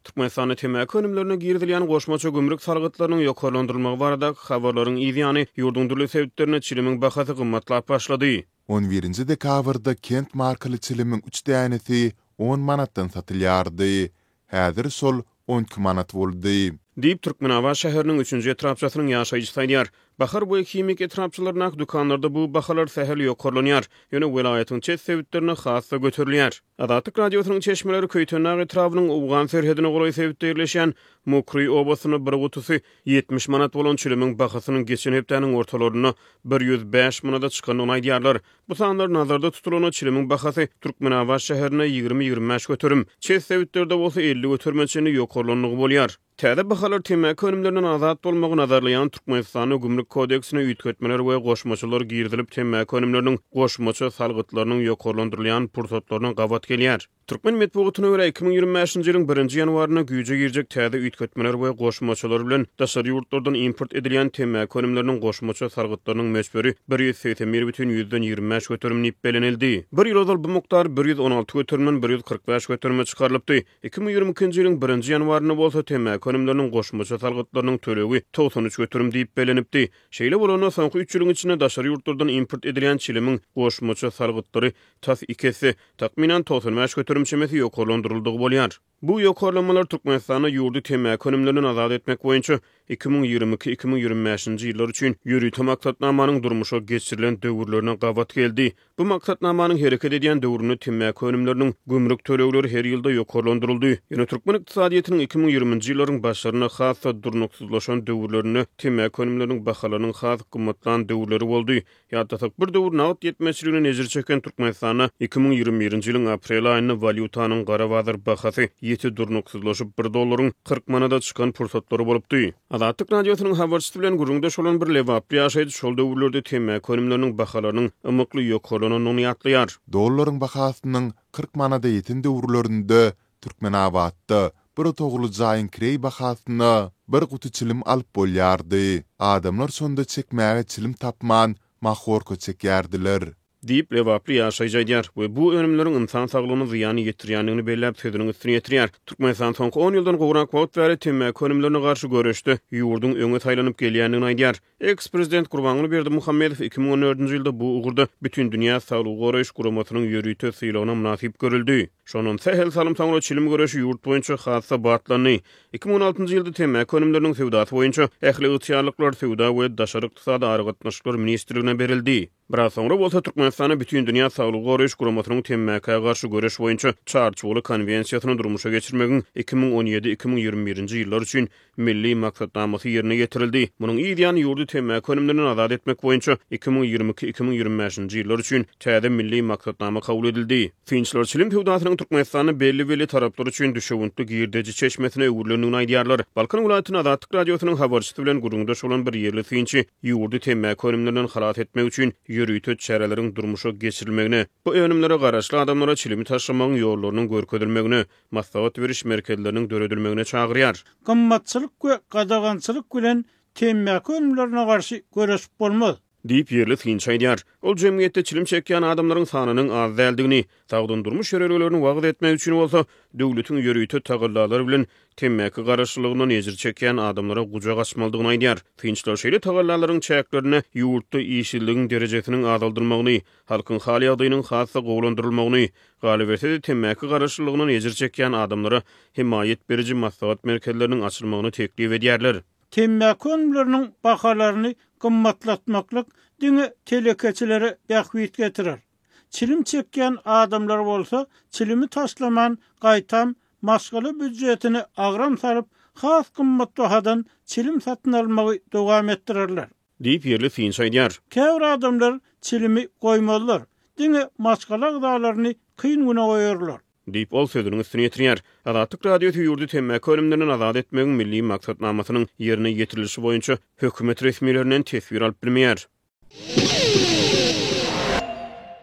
Türkmenistanda temaki önümlerine girizilýän goşmaça gümrük salgytlarynyň ýokarlandyrylmagy baradaky habarlaryň yz ýany, ýurduň dürli sebitlerinde çilimiň bahasy gymmatlap başlady. On birinji dekabrda Kent markaly çilimiň üç dänesi on manatdan satylýardy. Häzir şol on iki manat boldy. Diýip, Türkmenabat şäheriniň üçünji etrapçasynyň ýaşaýjysy aýdýar. Bahar boýy himik etrapçalaryndaky dükanlarda bu bahalar sähel ýokarlanýar, ýöne welaýatyň çet sebitlerinde has-da göterilýär. Azatlyk Radiosynyň çeşmeleri Köýtendag etrabynyň owgan serhedine golaý sebitde ýerleşýän Mokryý obasynda bir gutusy ýetmiş manat bolan çilimiň bahasynyň geçen hepdäniň ortalarynda bir ýüz bäş manada çykandygyny aýdýarlar. Bu sanlar nazarda tutulanda, çilimiň bahasy Türkmenabat şäherinde ýigrimi-ýigrimi bäş göterim, çet sebitlerde bolsa elli göterime çenli ýokarlandygy bolýar. Täze bahalar temmäki önümlerinden azat bolmagy nazarlaýan Türkmenistanda Gümrük kodeksine üýtgetmeler we goşmaçalar girizilip, temmäki önümleriniň goşmaça salgytlarynyň ýokarlandyrylýan pursatlaryna gabat gelýär. Türkmen metbugatyna görä, iki müň ýigrimi bäşinji ýylyň birinji ýanwarynda güýje girjek täze üýtgetmeler we goşmaçalar bilen daşary ýurtlardan import edilýän temmäki önümleriniň goşmaça salgytlarynyň möçberi bir ýüz segsen bir bütin ýüzden ýigrimi bäş göterim diýip bellenildi. Bir ýyl ozal bu mukdar bir ýüz on alty göterimden bir ýüz kyrk bäş göterime çykarylypdy. Iki müň ýigrimi ikinji ýylyň birinji ýanwarynda bolsa temmäki önümleriniň goşmaça salgytlarynyň tölegi togsan üç göterim diýip bellenipdi. Şeýle bolanda, soňky üç ýylyň içinde daşary ýurtlardan import edilýän çilimiň goşmaça salgytlary tas iki esse, takmynan togsan bäş göterim çemesi ýokarlandyryldygy bolýar. Bu ýokarlanmalar Türkmenistanda ýurdy temmäki önümlerinden azat etmek boýunça iki müň ýigrimi iki, iki müň ýigrimi bäşinji ýyllar üçin ýörite maksatnamanyň durmuşa geçirilen döwürlerine gabat geldi. Bu maksatnamanyň hereket edýän döwründe temmäki önümleriniň gümrük tölegleri her ýylda ýokarlandyryldy. Ýöne türkmen ykdysadyýetiniň iki müň ýigrimi nji ýyllaryň başlaryna has-da durnuksyzlaşan döwürlerinde temmäki önümleriniň bahalarynyň has gymmatlan döwürleri boldy. Ýatlasak, bir döwür nagt ýetmezçiligine ejir çeken Türkmenistanda iki müň ýigrimi birinji ýylyň aprel aýynda walýutanyň gara bazar bahasy ýiti durnuksyzlaşyp, bir dollaryň kyrk manada çykan pursatlary bolupdy. Azatlyk Radiosynyň habarçysy bilen gürrüňdeş bolan bir lebaply ýaşaýjy şol döwürlerde temmäki önümleriniň bahalarynyň ymykly ýokarlanandygyny ýatlaýar. Dollaryň bahasynyň kyrk manada ýeten döwürlerinde Türkmenabatda bir otagly jaýyň kireý bahasyna bir guty çilim alyp bolýardy. Adamlar şonda çekmäge çilim tapman, mahorka çekýärdiler. Diýip, lebaply ýaşaýjy aýdýar we bu önümleriň ynsan saglygyna zyýan ýetirýändigini belläp, sözüniň üstüni ýetirýär. Türkmenistan soňky on ýyldan gowrak wagt bäri temmäki önümlerine garşy göreşde ýurduň öňe saýlanyp gelýändigini aýdýar. Eks-prezident Gurbanguly Berdimuhamedow iki müň on dördünji ýylda bu ugurda Bütindünýä saglygy goraýyş guramasynyň ýörite sylagyna mynasyp görüldi. Şondan sähel salym soňra çilim göreşi ýurt boýunça has-da batlandy. Iki müň on altynjy ýylda temmäki önümleriniň söwdasy boýunça ähli ygtyýarlyklar Söwda we daşary ykdysady aragatnaşyklar ministrligine berildi. Biraz soňra bolsa Türkmenistana Bütindünýä Saglygy Goraýyş Guramasynyň Temmäkä garşy göreş boýunça Çarçuwaly konwensiýasyny durmuşa geçirmegiň iki müň on ýedi, iki müň ýigrimi birinji ýyllar üçin Milli maksatnamasy ýerine ýetirildi. Munuň yzýany ýurdy temmäki önümlerinden azat etmek boýunça iki müň ýigrimi iki, iki müň ýigrimi bäşinji ýyllar üçin täze milli maksatnama kabul edildi. Synçylar çilim söwdasynyň Türkmenistanda belli-belli taraplar üçin düşewüntli girdeji çeşmesine öwrülendigini aýdýarlar. Balkan welaýatyny Azatlyk Radiosynyň habarçysy bilen gürrüňdeş bolan bir ýerli synçy ýurdy temmäki önümlerinden halas etmek üçin ýörite çäreleriň durmuşa geçirilmegine, bu önümlere garaşly adamlara çilimi taşlamagyň ýollarynyň görkezilmegine, maslahat beriş merkezleriniň döredilmegine çagyrýar. Gymmatçylyk we gadagançylyk bilen temmäki önümlerine garşy göreşip bolmaz. Diýip, ýerli synçy aýdýar. Ol jemgyýetde çilim çekýän adamlaryň sanynyň az däldigini, sagdyn durmuş ýörelgelerini wagyz etmek üçin bolsa, döwletiň ýörite tagallalary bilen temmäki garaşlylygyndan ejir çekýän adamlara gujak açmalydygyny aýdýar. Synçylar şeýle tagallalaryň çäklerinde ýurtda işsizligiň derejesiniň azaldylmagyny, halkyň hal-ýagdaýynyň has-da gowulandyrylmagyny, galyberse-de, temmäki garaşlylygyndan ejir çekýän adamlara hemaýat beriji maslahat merkezleriniň açylmagyny teklip edýärler. Temmäki önümleriniň bahalaryny gymmatlatmaklyk diňe telekeçilere bähbit getirer. Çilim çekýän adamlar bolsa çilimi taşlaman gaýtam maşgala býudjetine agram salyp has gymmat bahadan çilim satyn almagy dowam etdirerler. Diýip ýerli synçy aýdýar. Käbir adamlar çilimi goýmazlar, diňe maşgala agzalaryny kyn güne goýarlar. Diýip, ol sözüniň üstüni ýetirýär. Azatlyk Radiosy ýurdy temmäki önümlerinden azat etmegiň milli maksatnamasynyň ýerine ýetirilişi boýunça hökümet resmilerinden teswir alyp bilmeýär.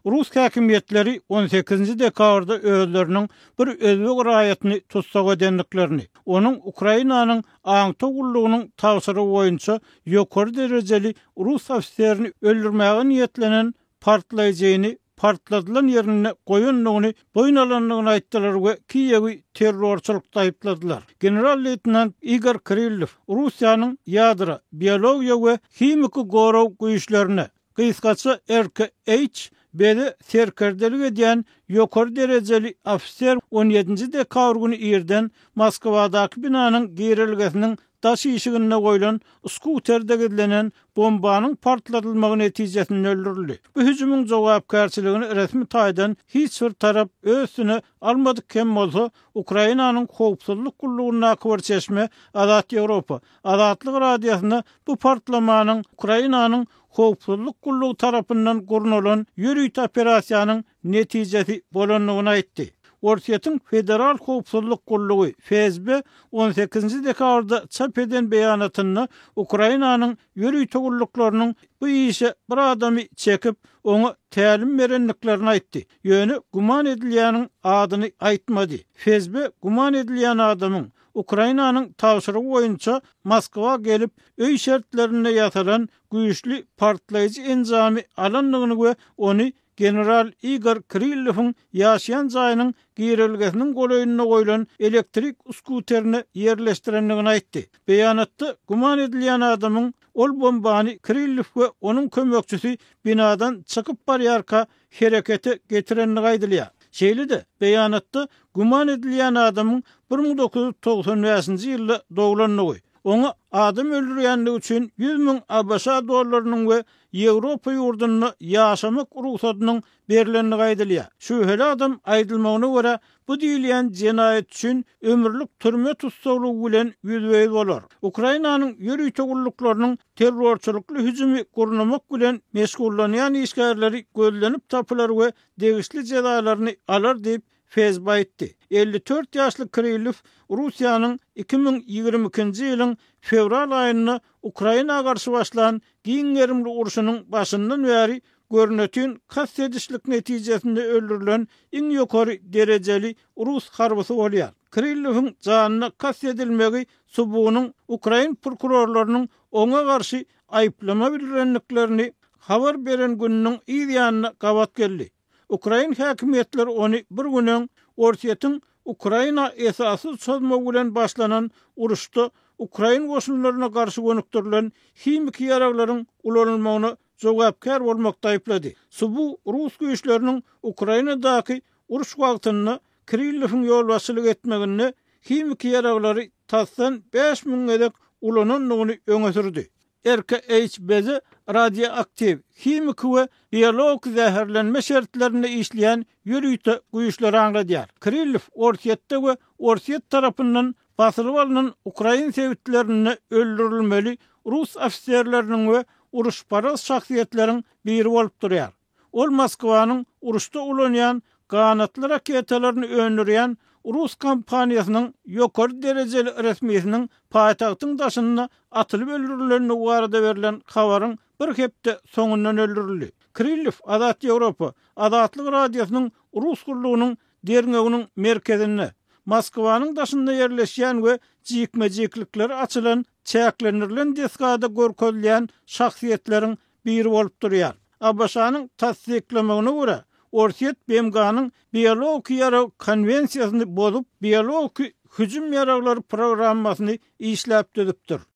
Rus häkimiýetleri on sekizinji dekabrda özleriniň bir özbek raýatyny tussag edendiklerini, onuň Ukrainanyň aňtaw gullugynyň tabşyrygy boýunça ýokary derejeli rus ofiserini öldürmäge niýetlenen partlaýjyny partladylan ýerinde goýandygyny boýun alandygyny aýtdylar we Kiýewi terrorçylykda aýypladylar. General-leýtenant Igor Kirillow Russiýanyň ýadro, biologiýa we himiki gorag güýçlerine, gysgaça RKH, bede serkerdelik edýän ýokary derejeli ofiser on ýedinji dekabr güni irden Moskwadaky binanyň girelgesiniň Daş işiginde goýlan skuterde gizlenen bombanyň partladylmagy netijesinde öldürildi. Bu hüjümiň jogapkärçiligini resmi taýdan hiç bir tarap öz üstüne almadyk hem bolsa, Ukrainanyň howpsuzlyk gullugyndaky bir çeşme Azat Ýewropa, Azatlyk Radiosyna bu partlamanyň Ukrainanyň howpsuzlyk gullugy tarapyndan gurnalan ýörite operasiýanyň netijesi bolandygyny aýtdy. Orsýetiň Federal howpsuzlyk gullugy, FSB, on sekizinji dekabrda çap eden beýanatynda Ukrainanyň ýörite gulluklarynyň bu işe bir adamy çekip, oňa tälim berendiklerini aýtdy, ýöne güman edilýäniň adyny aýtmady. FSB güman edilýän adamyň Ukrainanyň tabşyrygy boýunça Moskwa gelip, öý şertlerinde ýasalan güýçli partlaýjy enjamy alandygyny we ony General Igor Kirillowyň ýaşaýan jaýynyň girelgesiniň golaýynda goýlan elektrik skuterine ýerleşdirendigini aýtdy. Beýanatda güman edilýän adamyň ol bombany Kirillow we onuň kömekçisi binadan çykyp barýarka herekete getirendigi aýdylýar. Şeýle-de, beýanatda güman edilýän adamyň bir müň dokuz ýüz togsan bäşinji ýylda doglandygy, oňa adam öldürýändigi üçin ýüz müň ABŞ dollarynyň we Ýewropa ýurdunda ýaşamak rugsadynyň berlendigi aýdylýar. Şübheli adam, aýdylmagyna görä, bu diýilýän jenaýat üçin ömürlik türme tussaglygy bilen ýüzbe-ýüz bolar. Ukrainanyň ýörite gulluklarynyň terrorçylykly hüjümi gurnamak bilen meşgullanýan işgärleri gözlenip tapylar we degişli jezalaryny alar diýip, FSB aýtdy. Elli dört ýaşly Krylow Russiýanyň iki müň ýigrimi ikinji ýylyň fewral aýynda Ukraina garşy başlan giň gerimli urşunyň başyndan bäri görnetin kast edişlik netijesinde öldürilen iň ýokary derejeli rus harbysy bolýar. Krylowyň janyna kast edilmegi subunyň ukrain prokurorlarynyň oňa garşy aýyplama bildirendiklerini habar beren gününiň yz ýanyna gabat geldi. Ukrain häkimiýetleri ony bir gün öň Orsýetiň Ukraina esassyz çozmagy bilen başlanan uruşda ukrain goşunlaryna garşy gönükdirilen himiki ýaraglaryň ulanylmagyna jogapkär bolmakda aýyplady. Subu rus güýçleriniň Ukrainadaky uruş wagtynda Kirillowyň ýolbaşçylyk etmeginde himiki ýaraglary tasdan bäş müň gezek ulanandygyny öňe sürdi. RKHBZ radioaktiw, himiki we biologik zäherlenme şertlerinde işleýän ýörite güýçleri aňladýar. Kirillow Orsýetde we Orsýet tarapyndan basylyp alnan ukrain sebitlerinde öldürilmeli rus ofiserleriniň we uruşparaz şahsyýetleriň biri bolup durýar. Ol Moskwanyň uruşda ulanýan ganatly raketalaryny öndürýän rus kompaniýasynyň ýokary derejeli resmisiniň paýtagtyň daşynda atylyp öldürilendigi barada berlen habaryň bir hepde soňundan öldürildi. Krillew Azat Ýewropa, Azatlyk Radiosynyň rus gullugynyň derňewiniň merkezinde, Moskwanyň daşynda ýerleşýän we jikme-jiklikleri açylan çäklendirilen desgada görkezilýän şahsyýetleriň biri bolup durýar. ABŞ-nyň tassyklamagyna görä, Orsýet BMG-niň biologik ýarag konwensiýasyny bozup, biologik hüjüm ýaraglary programmasyny işläp düzüpdir.